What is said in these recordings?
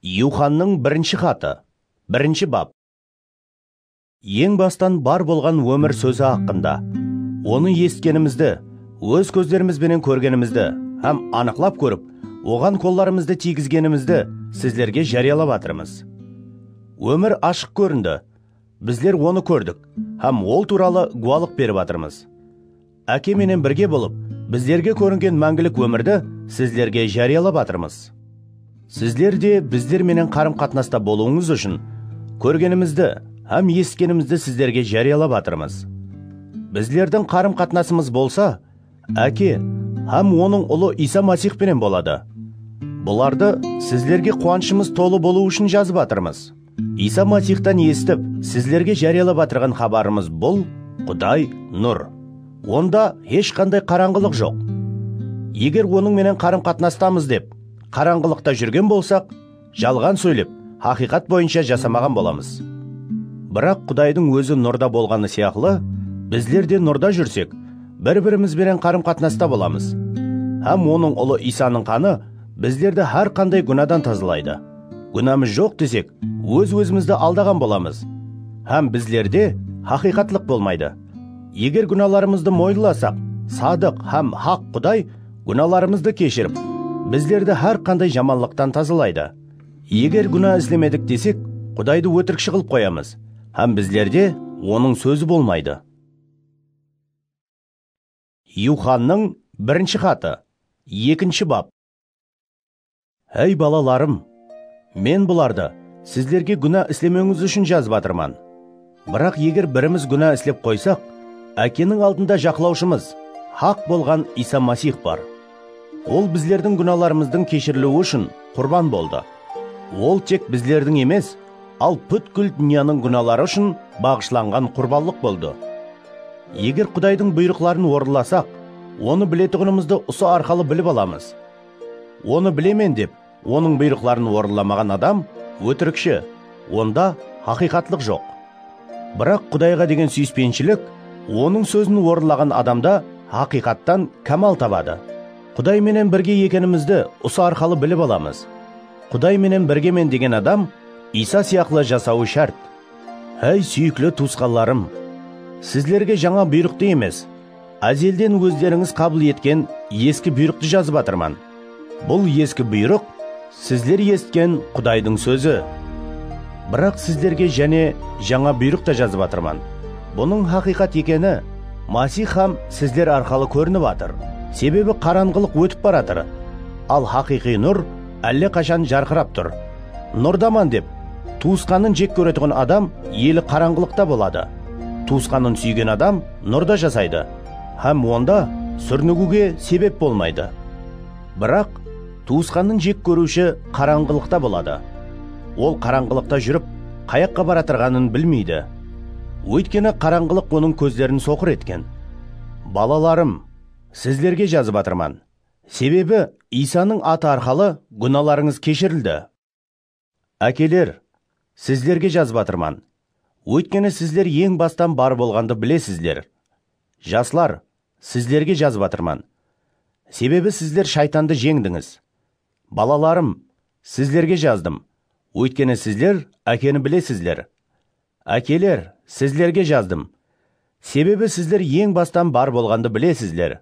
Yuxannıń birinshi xatı, birinshi bap. Eń bastan bar bolǵan ómir sózi haqqında, onı esitkenimizdi, óz kózlerimiz benen kórgenimizdi hám anıqlap kórip, oǵan qollarımızdı tiygizgenimizdi sizlerge járiyalap atırmız. Ómir ashıq kórindi, bizler onı kórdik hám ol tuwralı guwalıq berip atırmız. Áke menen birge bolıp, bizlerge kóringen máńgilik ómirdi sizlerge járiyalap atırmız. Sizler de bizler menen qarım-qatnasta bolıwıńız ushın, kórgenimizdi hám esitkenimizdi sizlerge járiyalap atırmız. Bizlerdiń qarım-qatnasımız bolsa, Áke hám Onıń Ulı Iysa Masix penen boladı. Bulardı sizlerge quwanıshımız tolı bolıwı ushın jazıp atırmız. Iysa Masixtan esitip, sizlerge járiyalap atırǵan xabarımız bul, Quday, nur. Onda hesh qanday qarańǵılıq joq. Eger Onıń menen qarım-qatnastamız dep, qarańǵılıqta júrgen bolsaq, jalǵan sóylep, haqıyqat boyınsha jasamaǵan bolamız. Biraq Qudaydıń Ózi nurda bolǵanı sıyaqlı, bizler de nurda júrsek, bir-birimiz benen qarım-qatnasta bolamız. Hám Onıń Ulı Iysanıń qanı Bizlerdi hár qanday gúnadan tazalaydı. Gúnamız joq desek, óz-ózimizdi aldaǵan bolamız hám bizlerde haqıyqatlıq bolmaydı. Eger gúnalarımızdı moyınlasaq, sadıq hám haq Quday gúnalarımızdı keshirip, bizlerdi hár qanday jamanlıqtan tazalaydı. Eger gúna islemedik desek, Qudaydı ótirikshi qılıp qoyamız hám bizlerde Onıń sózi bolmaydı. Yuxannıń birinshi xatı, ekinshi bap. Háy, balalarım, men bulardı sizlerge gúna islemewińiz ushın jazıp atırman. Biraq eger birimiz gúna islep qoysaq, Ákeniń aldında jaqlawshımız, haq bolǵan Iysa Masix bar. Ol bizlerdiń gúnalarımızdıń keshiriliwi ushın qurban boldı. Ol tek bizlerdiń emes, al pútkil dúnyanıń gúnaları ushın baǵıshlanǵan qurbanlıq boldı. Eger Qudaydıń buyrıqların orınlasaq, Onı biletuǵınımızdı usı arqalı bilip alamız. Onı bilemen dep, Onıń buyrıqların orınlamaǵan adam ótirikshi, onda haqıyqatlıq joq. Biraq Qudayǵa degen súyispenshilik Onıń sózin orınlaǵan adamda haqıyqattan kámal tabadı. Quday menen birge ekenimizdi usı arqalı bilip alamız. Quday menen birgemen degen adam Iysa sıyaqlı jasawı shárt. Háy súyikli tuwısqanlarım! Sizlerge jańa buyrıqtı emes, Ázelden ózlerińiz qabıl etken eski buyrıqtı jazıp atırman. Bul eski buyrıq, sizler esitken Qudaydıń sózi. Biraq sizlerge jáne jańa buyrıq ta jazıp atırman. Bunıń haqıyqat ekeni Masix hám sizler arqalı kórinip atır. Sebebi qaranǵılıq ótip baratır, al haqıyqıy nur álle qashan jarqırap tur. Nurdaman dep, tuwısqanın jek kóretuǵın adam eli qaranǵılıqta boladı. Tuwısqanın súygen adam nurda jasaydı hám onda súrnigiwge sebep bolmaydı. Biraq, tuwısqannın jek kóriwshi qarańǵılıqta boladı. Ol qarańǵılıqta júrip, qayaqqa baratırǵanın bilmeydi. Óytkeni qarańǵılıq onıń kózlerin soqır etken. Balalarım, sizlerge jazıp atırman, sebebi Iysanıń atı arqalı gúnalarıńız keshirildi. Ákeler, sizlerge jazıp atırman, óytkeni sizler eń bastan bar bolǵandı bilesizler. Jaslar, sizlerge jazıp atırman, sebebi sizler shaytandı jeńdińiz. Balalarım, sizlerge jazdım, óytkeni sizler Ákeni bilesizler. Ákeler, sizlerge jazdım, sebebi sizler eń bastan bar bolǵandı bilesizler.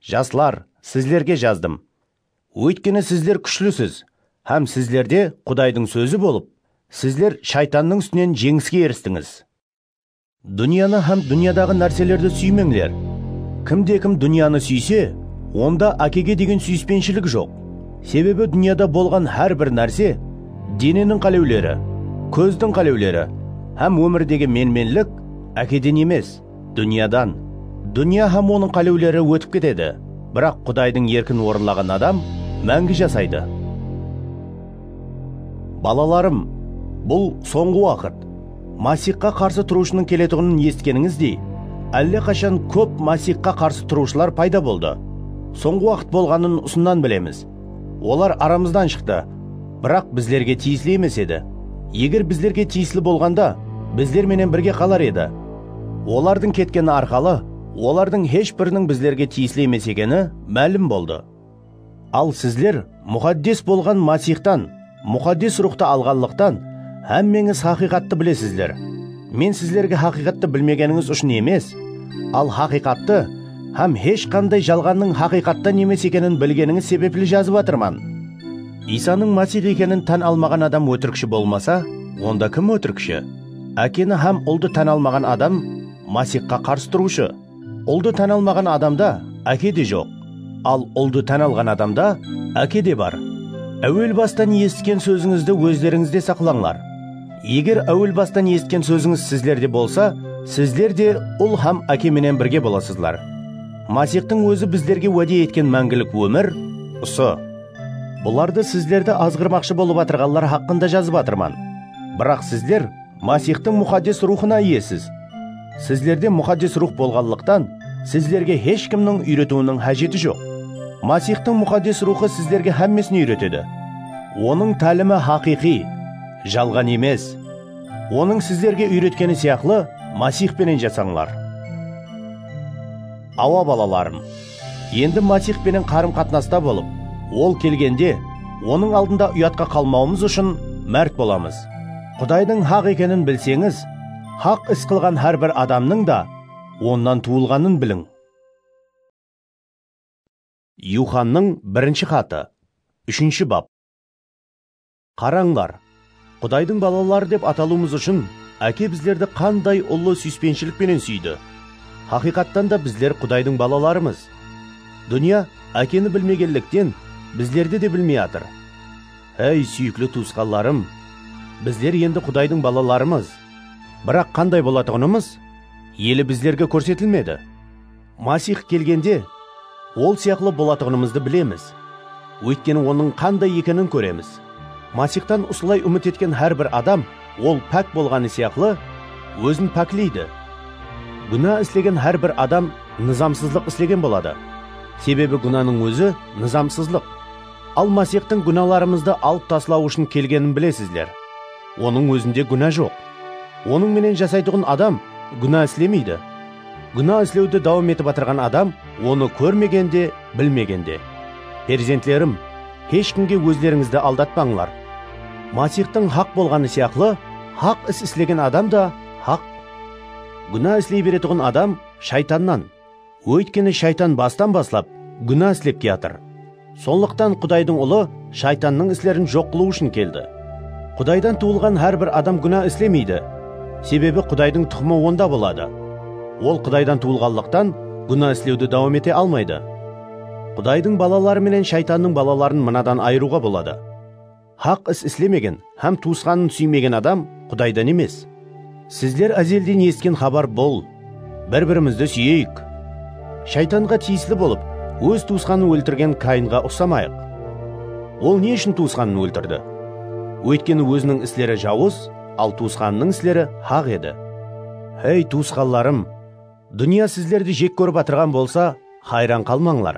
Jaslar, sizlerge jazdım, Óytkeni sizler kúshlisiz hám sizlerde Qudaydıń sózi bolıp, sizler Shaytannıń ústinen jeńiske eristińiz. Dúnyanı hám dúnyadaǵı nárselerdi súymeńler. Kimde-kim dúnyanı súyse, onda Ákege degen súyispenshilik joq. Sebebi dúnyada bolǵan hár bir nárse, deneniń qálewleri, kózdiń qálewleri hám ómirdegi menmenlik Ákeden emes. Dúnyadan, dúnya hám onıń qálewleri ótip ketedi, biraq Qudaydıń erkin orınlaǵan adam máńgi jasaydı. Balalarım, bul sońǵı waqıt. Masixqa qarsı turıwshınıń keletuǵının esitkenińizdey, álle qashan kóp Masixqa qarsı turıwshılar payda boldı. Sońǵı waqıt bolǵanın usınnan bilemiz. Olar aramızdan shıqtı, biraq bizlerge tiyisli emes edi. Eger bizlerge tiyisli bolǵanda, bizler menen birge qalar edi. Olardıń ketkeni arqalı, olardıń hesh biriniń bizlerge tiyisli emes ekeni málim boldı. Al sizler Muxaddes bolǵan Masixtan, Muxaddes Ruxtı alǵanlıqtan, hámmeńiz haqıyqattı bilesizler. Men sizlerge haqıyqattı bilmegenińiz ushın emes, al haqıyqattı hám hesh qanday jalǵannıń haqıyqattan emes ekenin bilgenińiz sebepli jazıp atırman. Iysanıń Masix ekenin tán almaǵan adam ótirikshi bolmasa, onda kim ótirikshi? Ákeni hám Uldı tán almaǵan adam Masixqa qarsı turıwshı. Uldı tán almaǵan adamda áke de joq, al uldı tán alǵan adamda áke de bar. Áwel bastan esitken sózińizdi ózlerińizde saqlańlar. Eger áwel bastan esitken sózińiz sizlerde bolsa, sizler de Ul hám Áke menen birge bolasızlar. Masixtıń Ózi bizlerge wáde etken máńgilik ómir, usı. Bulardı sizlerdi azǵırmaqshı bolıp atırǵanlar haqqında jazıp atırman. Biraq sizler. Masixtıń Muxaddes Ruwxına iyesiz. Sizlerde Muxaddes Ruwx bolǵanlıqtan, sizlerge hesh kimniń úyretiwiniń hájeti joq. Masixtıń Muxaddes Ruwxı sizlerge hámmesin úyretedi. Onıń tálimi haqıyqıy, jalǵan emes. Onıń sizlerge úyretkeni sıyaqlı, Masix penen jasańlar. Awa, balalarım. Endi Masix penen qarım-qatnasta bolıp, Ol kelgende, Onıń aldında uyatqa qalmawımız ushın márt bolamız. Qudaydıń haq ekenin bilseńiz, haq is qılǵan hár bir adamnıń da Onnan tuwılǵanın biliń. Yuxannıń birinshi xatı, úshinshi bap. Qarańlar, Qudaydıń balaları dep atalıwımız ushın Áke bizlerdi qanday ullı súyispenshilik penen súydi! Haqıyqattan da bizler Qudaydıń balalarımız. Dúnya Ákeni bilmegenlikten, bizlerdi de bilmey atır. Háy, súyikli tuwısqanlarım, bizler endi Qudaydıń balalarımız. Biraq qanday bolatuǵınımız ele bizlerge kórsetilmedi. Masix kelgende Ol sıyaqlı bolatuǵınımızdı bilemiz, óytkeni Onıń qanday ekenin kóremiz. Masixtan usılay úmit etken hár bir adam ol pák bolǵanı sıyaqlı ózin pákleydi. Gúna islegen hár bir adam nızamsızlıq islegen boladı, sebebi gúnanıń ózi nızamsızlıq. Al Masixtıń gúnalarımızdı alıp taslaw ushın kelgenin bilesizler. Onıń ózinde gúna joq. Onıń menen jasaytuǵın adam gúna islemeydi, Gúna islewdi dawam etip atırǵan adam onı kórmegen de, bilmegen de. Perzentlerim, hesh kimge ózlerińizdi aldatpańlar. Masixtıń haq bolǵanı sıyaqlı, haq is islegen adam da haq. Gúna isley beretuǵın adam Shaytannan, óytkeni Shaytan bastan baslap gúna islep kiyatır. Sonlıqtan Qudaydıń Ulı shaytannıń islerin joq qılıw ushın keldi. Qudaydan tuwılǵan hár bir adam gúna islemeydi, sebebi Qudaydıń tuxımı onda boladı. Ol Qudaydan tuwılǵanlıqtan, gúna islewdi dawam ete almaydı. Qudaydıń balaları menen shaytannıń balaların mınadan ayırıwǵa boladı. Haq is islemegen hám tuwısqanın súymegen adam Qudaydan emes. Sizler ázelden esitken xabar bul, Bir-birimizdi súyeyik. Shaytanǵa tiyisli bolıp, óz tuwısqanın óltirgen Kainǵa uqsamayıq. Ol ne ushın tuwısqanın óltirdi? Óytkeni óziniń isleri jawız, al tuwısqanınıń isleri haq edi. Hey, tuwısqanlarım! Dúnya sizlerdi jek kórip atırǵan bolsa, hayran qalmańlar.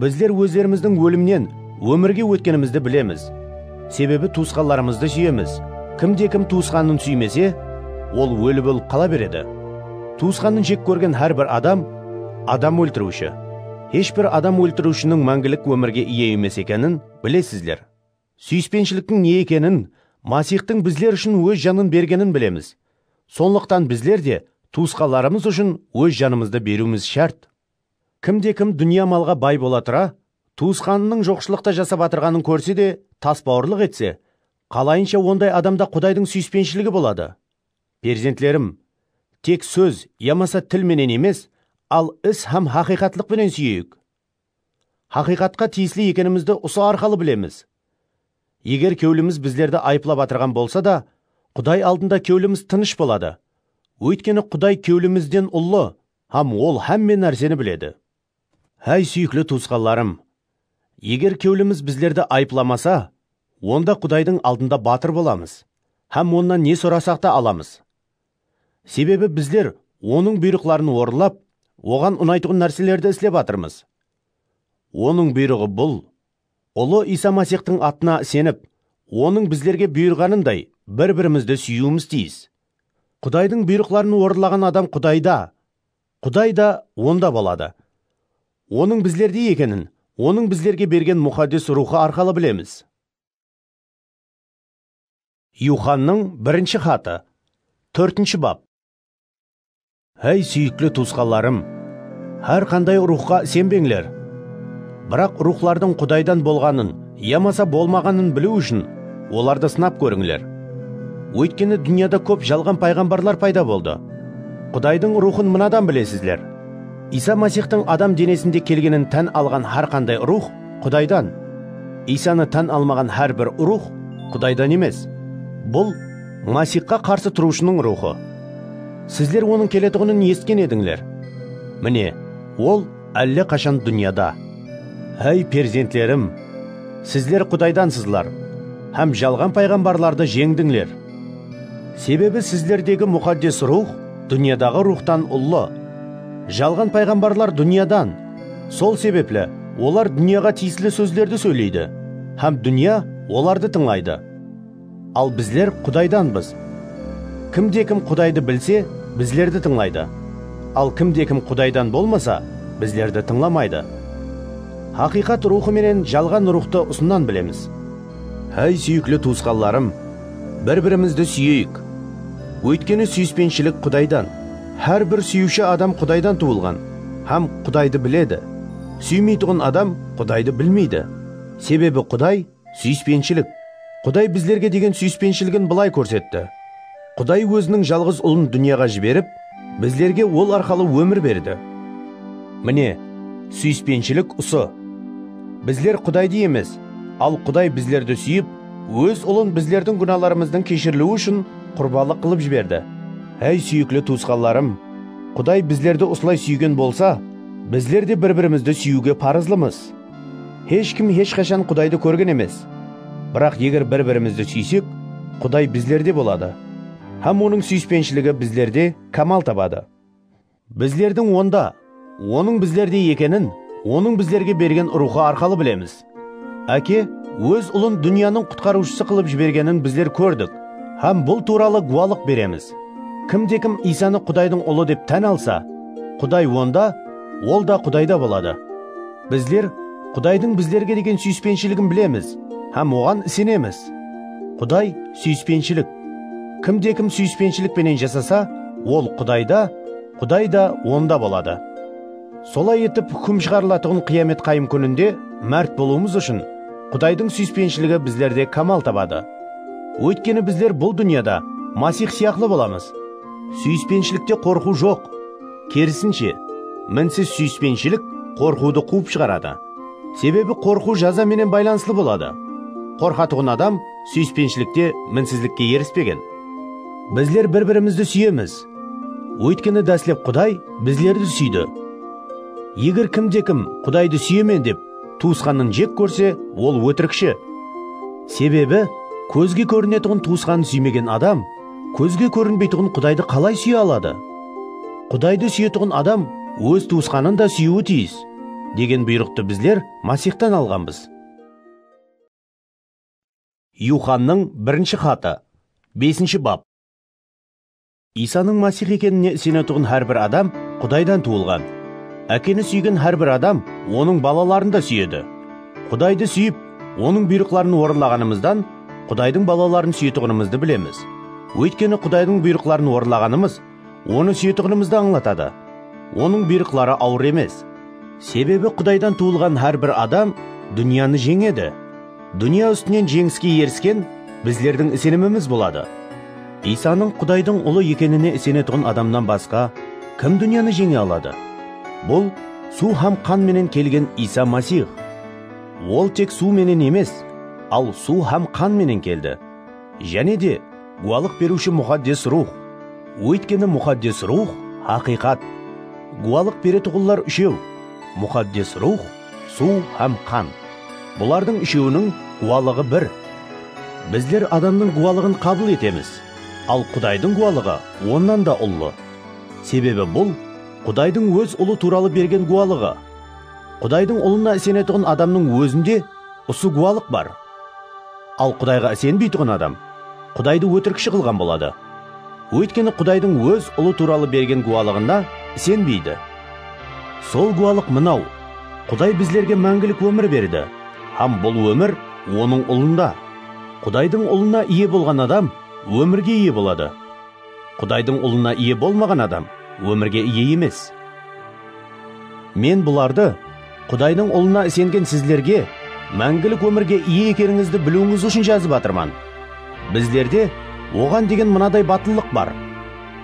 Bizler ózlerimizdiń ólimnen ómirge ótkenimizdi bilemiz. Sebebi tuwısqanlarımızdı súyemiz. Kimde-kim tuwısqanın súymese, ol óli bolıp qala beredi. Tuwısqanın jek kórgen hár bir adam, adam óltiriwshi. Hesh bir adam óltiriwshiniń máńgilik ómirge iye emes ekenin bilesizler. Súyispenshiliktiń ne ekenin, Masixtıń bizler ushın Óz janın bergenin bilemiz. Sonlıqtan bizler de tuwısqanlarımız ushın óz janımızdı beriwimiz shárt. Kimde-kim dúnya malǵa bay bola tura, tuwısqanınıń joqshılıqta jasap atırǵanın kórse de tasbawırlıq etse, qalayınsha onday adamda Qudaydıń súyispenshligi boladı? Perzentlerim, tek sóz yamasa til menen emes, al is hám haqıyqatlıq penen súyeyik. Haqıyqatqa tiyisli ekenimizdi usı arqalı bilemiz. Eger kewlimiz bizlerdi ayıplap atırǵan bolsa da, Quday aldında kewlimiz tınısh boladı. Óytkeni Quday kewlimizden ullı hám Ol hámme nárseni biledi. Háy, súyikli tuwısqanlarım! Eger kewlimiz bizlerdi ayıplamasa, onda Qudaydıń aldında batır bolamız hám Onnan ne sorasaq ta alamız. Sebebi bizler Onıń buyrıqların orınlap, Oǵan unaytuǵın nárselerdi islep atırmız. Onıń buyrıǵı bul, Ulı Iysa Masixtıń atına isenip, Onıń bizlerge buyırǵanınday bir-birimizdi súyiwimiz tiyis. Qudaydıń buyrıqların orınlaǵan adam Qudayda, Quday da onda boladı. Onıń bizlerde ekenin Onıń bizlerge bergen Muxaddes Ruwxı arqalı bilemiz. Yuxannıń birinshi xatı, tórtinshi bap. Háy, súyikli tuwısqanlarım, hár qanday ruwxqa isenbeńler, biraq ruwxlardıń Qudaydan bolǵanın yamasa bolmaǵanın biliw ushın olardı sınap kórińler. Óytkeni dúnyada kóp jalǵan payǵambarlar payda boldı. Qudaydıń Ruwxın mınadan bilesizler, Iysa Masixtıń adam denesinde kelgenin tán alǵan hár qanday ruwx Qudaydan. Iysanı tán almaǵan hár bir ruwx Qudaydan emes. Bul, Masixqa qarsı turıwshınıń ruwxı. Sizler onıń keletuǵının esitken edińler. Mine, ol álle qashan dúnyada. Áy, perzentlerim! Sizler Qudaydansızlar hám jalǵan payǵambarlardı jeńdińler. Sebebi sizlerdegi Muxaddes Ruwx dúnyadaǵı ruwxtan ullı. Jalǵan payǵambarlar dúnyadan. Sol sebepli olar dúnyaǵa tiyisli sózlerdi sóyleydi hám dúnya olardı tıńlaydı. Al bizler Qudaydanbız. Kimde-kim Qudaydı bilse, bizlerdi tıńlaydı. Al kimde-kim Qudaydan bolmasa, bizlerdi tıńlamaydı. Haqıyqat Ruwxı menen jalǵan ruwxtı usınnan bilemiz. Háy súyikli tuwısqanlarım, bir-birimizdi súyeyik. Óytkeni súyispenshilik Qudaydan. Hár bir súyiwshi adam Qudaydan tuwılǵan hám Qudaydı biledi. Súymeytuǵın adam Qudaydı bilmeydi, sebebi Quday súyispenshilik. Quday bizlerge degen súyispenshiligin bılay kórsetti. Quday Óziniń Jalǵız Ulın dúnyaǵa jiberip, bizlerge Ol arqalı ómir berdi. Mine, súyispenshilik usı. Bizler Qudaydı emes, al Quday bizlerdi súyip, Óz Ulın bizlerdiń gúnalarımızdıń keshiriliwi ushın qurbalıq qılıp jiberdi. Háy, súyikli tuwısqanlarım, Quday bizlerdi usılay súygen bolsa, bizler de bir-birimizdi súyiwge parızlımız. Hesh kim hesh qashan Qudaydı kórgen emes. Biraq eger bir-birimizdi súysek, Quday bizlerde boladı, hám Onıń súyispenshiligi bizlerde kámal tabadı. Bizlerdiń Onda, Onıń bizlerde ekenin Onıń bizlerge bergen Ruwxı arqalı bilemiz. Áke Óz Ulın dúnyanıń Qutqarıwshısı qılıp jibergenin bizler kórdik hám bul tuwralı guwalıq beremiz. Kimde-kim Iysanı Qudaydıń Ulı dep tán alsa, Quday onda, Ol da Qudayda boladı. Bizler Qudaydıń bizlerge degen súyispenshiligin bilemiz hám Oǵan isenemiz. Quday, súyispenshilik. Kimde-kim súyispenshilik penen jasasa, ol Qudayda, Quday da onda boladı. Solay etip, húkim shıǵarılatuǵın qıyamet qayım kúninde márt bolıwımız ushın Qudaydıń súyispenshiligi bizlerde kámal tabadı. Óytkeni bizler bul dúnyada Masix sıyaqlı bolamız. Súyispenshilikte qorqıw joq. Kerisinshe, minsiz súyispenshilik qorqıwdı quwıp shıǵaradı. Sebebi qorqıw jaza menen baylanıslı boladı. Qorqatuǵın adam súyispenshilikte minsizlikke erispegen. Bizler bir-birimizdi súyemiz. Óytkeni dáslep Quday bizlerdi súydi. Eger kimde-kim Qudaydı súyemen dep tuwısqanın jek kórse, ol ótirikshi. Sebebi kózge kórinetuǵın tuwısqanın súymegen adam Kózge kórinbeytuǵın Qudaydı qalay súye aladı? Qudaydı súyetuǵın adam óz tuwısqanın da súyiwi tiyis, degen buyrıqtı bizler Masixtan alǵanbız. Yuxannıń birinshi xatı, besinshi bap. Iysanıń Masix ekenine isenetuǵın hár bir adam Qudaydan tuwılǵan. Ákeni súygen hár bir adam Onıń balaların da súyedi. Qudaydı súyip, Onıń buyrıqların orınlaǵanımızdan, Qudaydıń balaların súyetuǵınımızdı bilemiz, óytkeni Qudaydıń buyrıqların orınlaǵanımız Onı súyetuǵınımızdı ańlatadı. Onıń buyrıqları awır emes. Sebebi Qudaydan tuwılǵan hár bir adam dúnyanı jeńedi. Dúnya ústinen jeńiske erisken bizlerdiń isenimimiz boladı. Iysanıń Qudaydıń Ulı ekenine isenetuǵın adamnan basqa kim dúnyanı jeńe aladı? Bul, suw hám qan menen kelgen Iysa Masix. Ol tek suw menen emes, al suw hám qan menen keldi. Jáne de, gúwalıq beriwshi Muxaddes Ruwx. Óytkeni Muxaddes Ruwx, haqıyqat. Gúwalıq beretuǵınlar úshew, Muxaddes Ruwx, suw hám qan. Bulardıń úshewiniń gúwalıǵı bir. Bizler adamnıń gúwalıǵın qabıl etemiz, al Qudaydıń gúwalıǵı onnan da ullı. Sebebi bul, Qudaydıń Óz Ulı tuwralı bergen gúwalıǵı. Qudaydıń Ulına isenetuǵın adamnıń ózinde usı gúwalıq bar. Al Qudayǵa isenbeytuǵın adam Qudaydı ótirikshi qılǵan boladı. Óytkeni Qudaydıń Óz Ulı tuwralı bergen gúwalıǵına isenbeydi. Sol gúwalıq mınaw, Quday bizlerge máńgilik ómir berdi hám bul ómir Onıń Ulında. Qudaydıń Ulına iye bolǵan adam ómirge iye boladı. Qudaydıń Ulına iye bolmaǵan adam ómirge iye emes. Men bulardı Qudaydıń Ulına isengen sizlerge máńgilik ómirge iye ekenińizdi biliwińiz ushın jazıp atırman. Bizlerde Oǵan degen mınaday batıllıq bar,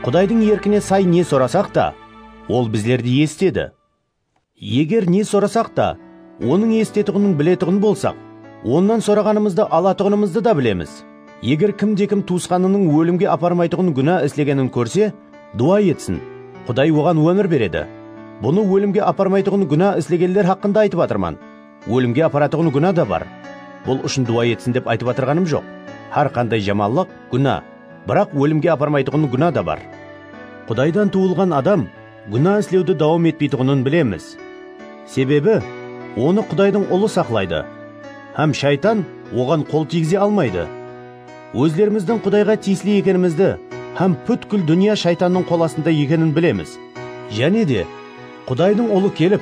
Qudaydıń erkine say ne sorasaq ta, Ol bizlerdi esitedi. Eger ne sorasaq ta, Onıń esitetuǵının biletuǵın bolsaq, Onnan soraǵanımızdı alatuǵınımızdı da bilemiz. Eger kim de kim tuwısqanınıń ólimge aparmaytuǵın gúna islegenin kórse, duwa etsin, Quday oǵan ómir beredi. Bunı ólimge aparmaytuǵın gúna islegenler haqqında aytıp atırman. Ólimge aparatuǵın gúna da bar. Bul ushın duwa etsin dep aytıp atırǵanım joq. Hár qanday jamanlıq, gúna, biraq ólimge aparmaytuǵın gúna da bar. Qudaydan tuwılǵan adam gúna islewdi dawam etpeytuǵının bilemiz. Sebebi, onı Qudaydıń Ulı saqlaydı hám shaytan oǵan qol tiygize almaydı. Ózlerimizdiń Qudayǵa tiyisli ekenimizdi hám pútkil dúnya shaytannıń qol astında ekenin bilemiz. Jáne de, Qudaydıń Ulı kelip,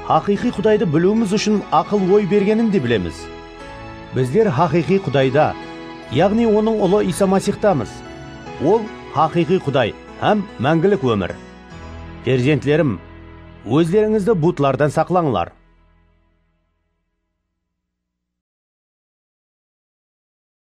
haqıyqıy Qudaydı biliwimiz ushın aqıl-oy bergenin de bilemiz. Bizler haqıyqıy Qudayda, yaǵnıy Onıń Ulı Iysa Masixtamız. Ol, haqıyqıy Quday. Hám máńgilik ómir. Perzentlerim, ózlerińizdi butlardan saqlańlar.